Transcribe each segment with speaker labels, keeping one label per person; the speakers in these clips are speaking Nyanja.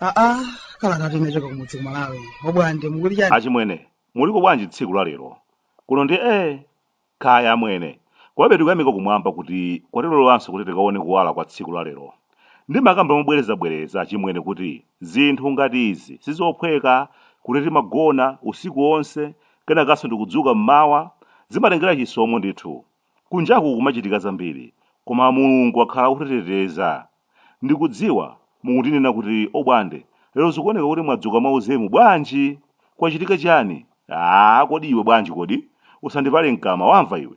Speaker 1: aa kalatatu inachoka kumudzi ku malawi obwande mukuti chani achimwene muliko bwanji tsiku la lero kuno ndi ee Kaya amwene. Komabe tikuyamika kumwamba kuti kwatilolanso kuti tikaone kuwala kwa tsiku la lero. Ndimakamba mobwerezabwereza achimwene kuti zinthu ngati izi sizophweka, kuti timagona usiku onse kenakanso ndikudzuka m'mawa, zimatengera chisomo ndithu. Kunjaku kumachitika zambiri, koma Mulungu wakhala akutiteteza. Ndikudziwa mukundinena kuti Obwande, lero zikuoneka kuti mwadzuka mwauzimu, bwanji? Kwachitika chiyani? Aaa kodi iwe bwanji kodi? Usandipale mkamwa wamva iwe.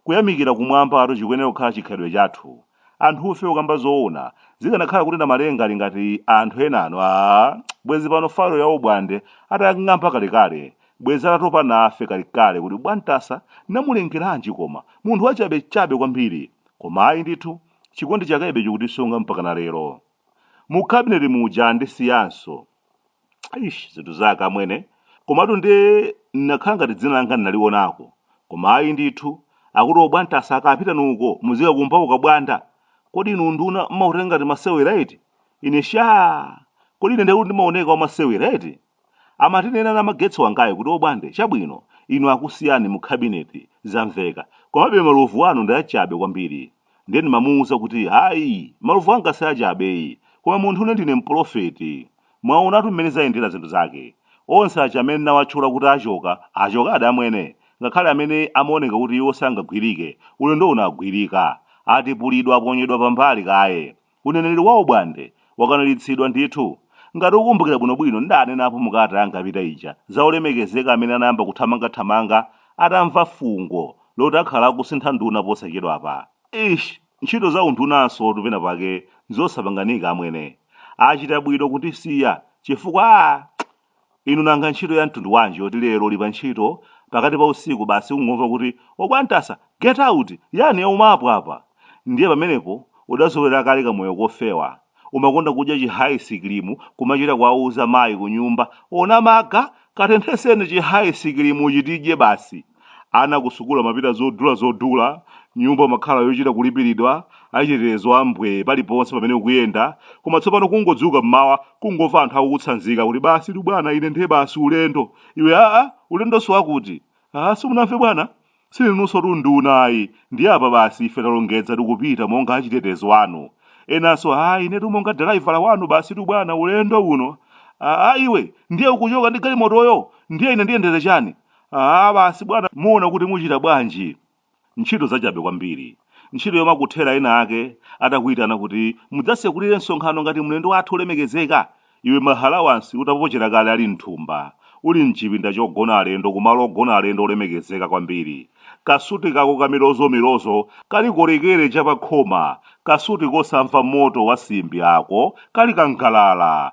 Speaker 1: Kuyamikira kumwambatu chikuyenera kukhala chikhalidwe chathu. Anthufe kukamba zoona, zikanakhala kuti Namalenga ali ngati anthu enanu aah bwezi pano file ya Obwande atayang'amba kalekale, bwezi atatopa nafe kalekale kuti Bwantasa namulengeranji koma, munthu wachabechabe kwambiri. Koma ayi ndithu, Chikondi chakebe chikutisunga mpakana lero. Mu cabinet muja andisiyanso. Eish zinthu zake amwene. Komatu nde ndinakhala ngati dzina langa ndinalionako. Koma ayi ndithu. Akuti obwantasa akapita nuko muzikakumba ukabwanda. Kodi inu unduna mmautenga ngati masewera eti? Ine shaa! Kodi ine ndekuti ndimaoneka wamasewera eti? Amandinena namagetsi wangayu kuti obwande chabwino inu akusiyani mu cabinet zamveka komabe malovu anu ndi achabe kwambiri ndiye ndimamuuza kuti ayi malovu anga si achabeyi koma munthune ndine mpolofeti. Mwaonatu mmene zayendera zinthu zake. Onse aja amene ndinawatchula kuti achoka, achokadi amwene ngakhale amene amaoneka kuti iwo sangagwirike, ulendo uno agwirika. Atipulidwa aponyedwa pambali kaye. Uneneri wa obwande wakwaniritsidwa ndithu. Ngati ukukumbukira bwinobwino ndidanenapo mu kalata yanga yapita ija za olemekezeka amene anayamba kuthamangathamanga atamva fungo loti akhala akusintha nduna posachedwapa. Eish! Ntchito za undunansotu pena pake nzosapanganika amwene. Achita bwino kundisiya chifukwa aah! Inu nanga ntchito ya mtundu wanji yoti lero uli pa ntchito pakati pa usiku basi kungomva kuti Obwantasa! Get out! Yani yaumapo apa? Ndiye pamenepo udazolowera kale kamoyo kofewa. Umakonda kudya chi hayisikilimu kumachita kuwauza mayi kunyumba, Onamaga! Katenthetseni chi hayisikilimuchi tidye basi! Ana kusukulu amapita zodula zodula, nyumba umakhala yochita kulipiridwa, achitetezo a mbwee paliponse pamene ukuyenda, koma tsopano kungodzuka m'mawa kungomva anthu akukutsanzika kuti basitu bwana ine ndiye basi ulendo, iwe aa ulendonso wakuti? Haa simunamve bwana? Sindinunsotu nduna ayi, ndiye apa basi ife talongedza tikupita monga achitetezo anu. Enanso haa inetu monga dalaivala wanu basitu bwana ulendo uno. Aa iwe ndiye ukuchoka ndi galimotoyo? Ndiye ine ndiyendere chani? Aaa basi bwana muona kuti muchita bwanji. Ntchito zachabe kwambiri. Ntchito yomakuthera ena ake atakuitana kuti mudzasekulire msonkhano ngati mlendo wathu wolemekezeka. Iwe maalawansi utapochera kale ali m'thumba. Uli m'chipinda chogona alendo kumalo ogona alendo olemekezeka kwambiri. Kasuti kako kamilozomilozo kali kolekere chapakhoma. Kasuti kosamva moto wa simbi ako kali kangalala.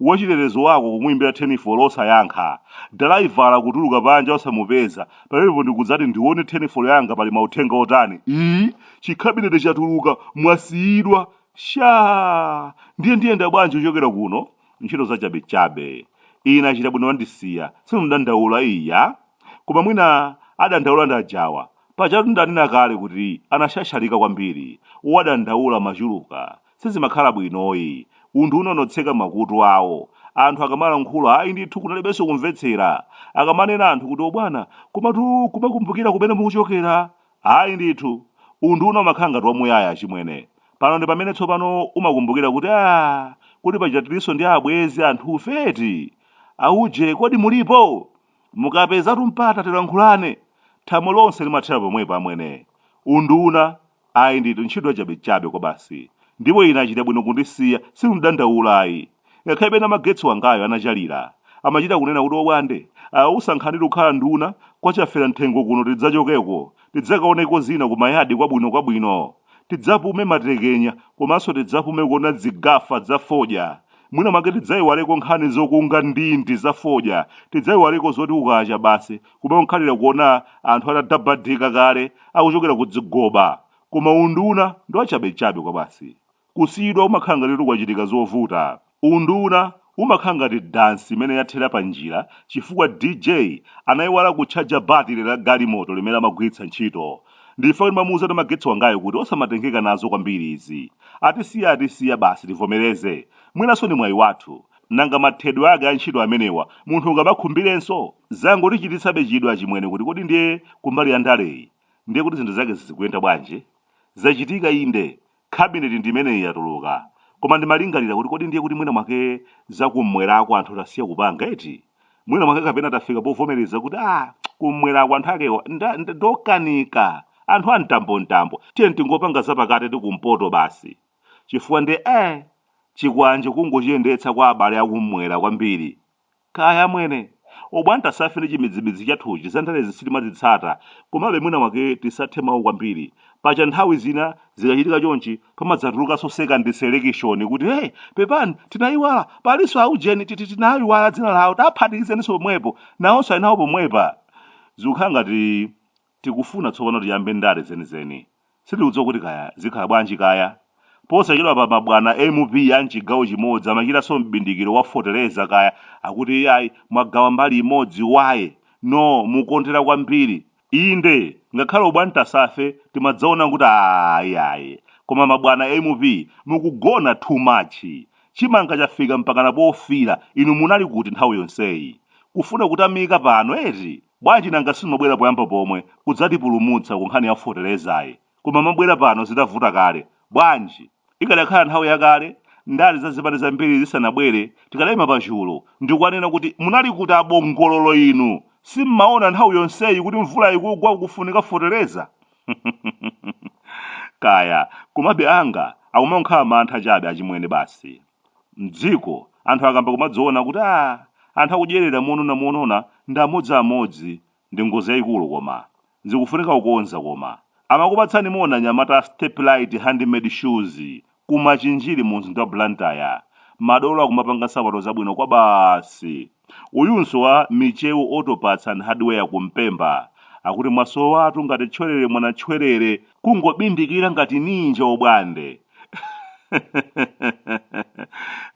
Speaker 1: Wachitetezo wako kumuimbira thenifolo osayankha. Dalaivala kutuluka panja osamupeza. Pamenepo ndikudzati ndione thenifolo yanga pali mauthenga otani. Ii! Chikhabineti chatuluka, mwasiyidwa. Shaa! Ndiye ndiyenda bwanji kuchokera kuno? Ntchito zachabechabe. Ine achita bwino andisiya. Sindidandaula iya. Koma mwina adandaula ndi ajawa. Pajatu ndanena kale kuti anasyasyalika kwambiri. Wadandaula machuluka. Sizimakhala bwinoyi. Unduna unatseka makutu awo. Anthu akamalankhula ayi ndithu kunalibenso kumvetsera. Akamanena anthu kuti obwana komatu kumakumbukira kumene mukuchokera? Ayi ndithu. Unduna umakhala ngati wamuyaya achimwene. Pano ndi pamene tsopano umakumbukira kuti aah kodi paja tilinso ndi abwenzi anthufe eti? Auje kodi mulipo? Mukapezatu mpata tilankhulane. Thamo lonse limathera pomwepa amwene. Unduna Ayi ndithu ntchito yachabechabe kwabasi. Ndipo ine achita bwino kundisiya, sindidandaula ayi. Ngakhale pena magetsi wangayo anachalira, amachita kunena kuti obwande, au sankhanitu kukhala nduna, kwa chafera mthengo kuno tidzachokeko, tidzakaoneko zina ku mayadi kwabwinokwabwino. Tidzapume matekenya komanso tidzapume kuona dzigafa dza fodya. Mwina mwake tidzaiwaleko nkhani zokunga ndindi za fodya, tidzaiwaleko zoti kukacha basi kumangokhalira kuona anthu atadabadika kale akuchokera kudzigoba koma unduna ndi wachabechabe kwabasi kusiyidwa umakhala ngati kuti kwachitika zovuta unduna umakhala ngati dansi imene yathera pa njira chifukwa dj anayiwala kutchaja batire la galimoto limene amagwiritsa ntchito nchifukwa ndimamuuza ndi magetsi wangayo kuti osamatengeka nazo kwambiri izi atisiya atisiya basi tivomereze mwinanso ndi mwayi wathu nanga mathedwe ake a ntchito amenewa munthu ungawakhumbirenso Zangotichititsabe chidwi achimwene kuti kodi ndiye kumbali ya ndaleyi ndiye kuti zinthu zake zizikuyenda bwanji? Zachitika inde, cabinet ndi imeneyi yatuluka, koma ndimalingalira kuti kodi ndiye kuti mwina mwake za kummwerako anthu tasiya kupanga eti? Mwina mwake kapena tafika povomereza kuti ah, kummwerako anthu akewo nda- nda- ndokanika, anthu a mtambomtambo, tiyeni tingopanga zapakati ndi kumpoto basi. Chifukwa ndiye eh, chikwanje kungochiyendetsa kwa abale akummwera kwambiri, Kaya amwene. Obwantasafe ndi chimidzimidzi chathuchi za ndalezi sitimazitsata komabe mwina mwake tisathe mau kwambiri. Paja nthawi zina zikachitika chonchi pamadzatulukanso second selekishoni kuti hey pepani tinayiwala palinso a ujeni titi tinawaiwala dzina lawo tawaphatikizaninso pomwepo nawonso ali nawo pomwepa. Zikukhala ngati Tikufuna tsopano tiyambe ndale zenizeni. Sitikudziwa kuti kaya zikhala bwanji kaya. Posachedwapa mabwana a MP a m'chigawo chimodzi amachitanso m'bindikiro wa feteleza kaya akuti iyayi mwagawa mbali imodzi why? No mukukondera kwambiri. Inde ngakhale obwantasafe timadzaona kuti aah iyayi koma mabwana a MP mukugona too much. Chimanga chafika mpakana pofiira inu munali kuti nthawi yonseyi? Kufuna kutamika pano eti? Bwanji nanga simabwera poyamba pomwe kudzatipulumutsa ku nkhani ya fetelezayi? Koma mabwera pano zitavuta kale. Bwanji? Ikadakhala nthawi yakale, ndale za zipani zambiri zisanabwere, tikadaima pachulu ndikuwanena kuti munali kuti a Bongololo inu? Simmaona nthawi yonseyi kuti mvula ikugwa kukufunika feteleza? Kaya, komabe anga akumangonkhala mantha chabe achimwene basi. M'dziko, anthu akamba kumadziona kuti aah anthu akudyerera monona monona ndi amodzi amodzi ndi ngozi yaikulu koma. Zikufunika kukonza koma. Amakupatsani moni anyamata a Steplite Handmade Shoes ku Machinjiri mumzinda wa Blantyre. Madolo akumapanga nsapato zabwino kwabasi. Uyunso wa Michewu Auto Parts and Hardware ku Mpemba akuti mwasowatu ngati tchwerere mwana tchwerere kungobindikira ngati ninja obwande.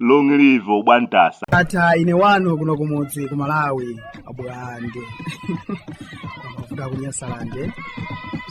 Speaker 1: Long live obwantasa. Ndatha ine wanu kuno kumudzi ku malawi abwande mafuta kunyasalande